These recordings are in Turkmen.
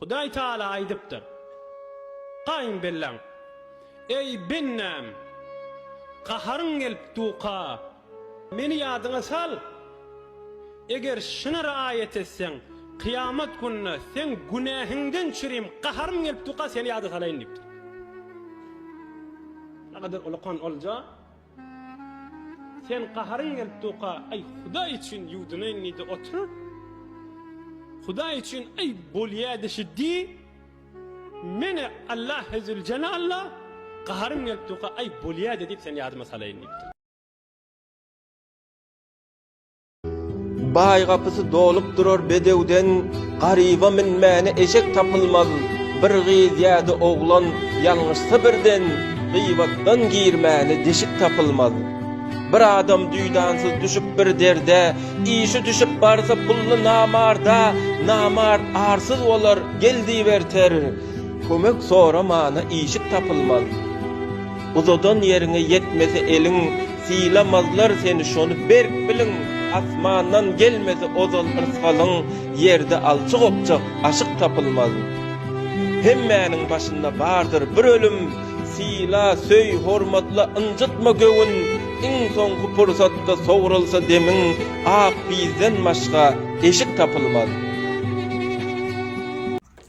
Hudaý Taala aýdypdyr, Gaýyn belläň, Eý, bendäm! Gaharyň gelip duka, Meni ýadyňa sal! Eger şuny riaýat etseň, kyýamat gününe seň günähiňden çürim, gaharym gelip duka, seni ýada salaýyn diýipdir. Nähili ulakan olja! Sen gaharyň gelip duka aý hudaý üçin ýuwdunaýyn diýdi otur hudaý üçin aý bolýa dişi diý meni Allah ezül cenalla gaharym gelip duka aý bolýa diýip sen ýadyma salaýyn diýipdir. Baý gapysy dolup durar bedewden, Garyba minmäne eşek tapylmaz. Bir gyz ýa-da oglan ýalňyşsa birden, Gyýbatdan girmäne deşik tapylmaz. Bir adam duýdansyz düşüp bir derde, Işi düşüp barsa pully namarda, Namart arsyz bolar, gel diýip erter, Kömek soramana işik tapylmaz. Uzadan ýeriňe ýetmese eliň, Sylamazlar seni şony berk biliň, Asmandan gelmese ozal yrsgalyň, Ýerde alçy gopjak aşyk tapylmaz. Hemmäniň başynda bardyr bir ölüm, Syla, söý, hormatla, ynjytma göwün, Iň soňky pursatda sogrulsa demiň, Ak bizden başga eşik tapylmaz.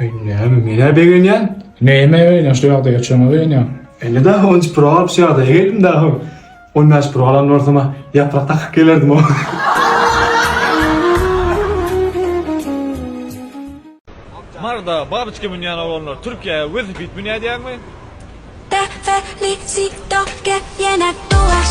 Eý näme menä begenýäň? Näme begenýäň şu ýagdaýa çöňe begenýäň. Indi daha on üç pro alyp şu ýagdaýa geldim daha on bäş pro alan bolsama ýaprak takyp gelerdim. Marda babyçka münýän oglanlar Türkiýä welosiped münýä diýäňmi? Te felicito que bien actúas.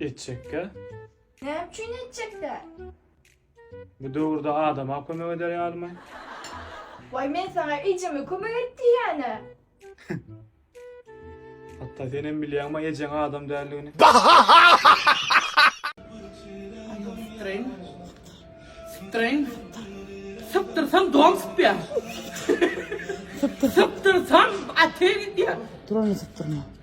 Etjekkä? Näme üçin etjekkä? Bu döwürde adama kömek eder ýalymy? Waý men saňa ejeme kömek et diýýän-ä. Hatda senem bilýäňmi ejeň adam däldigini? Tren. Tren. Sıptırsam don sıpya. Sıptırsam atel gitya. Duranı sıptırma.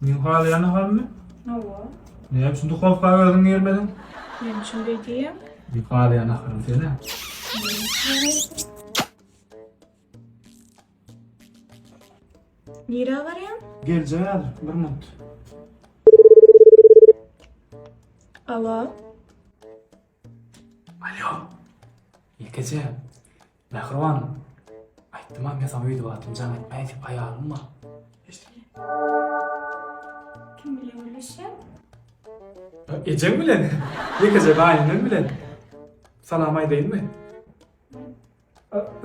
Meň halaýan halmy? Hawa. Näme üçin duhowka özüň girmediň? Näme üçin beý diýýäň? Meň halaýan ahalym sen-ä. Nirä barýaň? Geljek häzir, bir minut. Alo. Alo. Ýekeje. Mähriban, aýtdym-a men saňa öýdüp atym jaň etmäý diýip, aýalym bar. Eşitmeýän. Kim bilen gürleşýäň? Ejeň bilen, ýekeje gaýynyň bilen. Salam aýdaýynmy?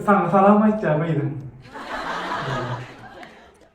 Saňa salam aýtýar gyzym.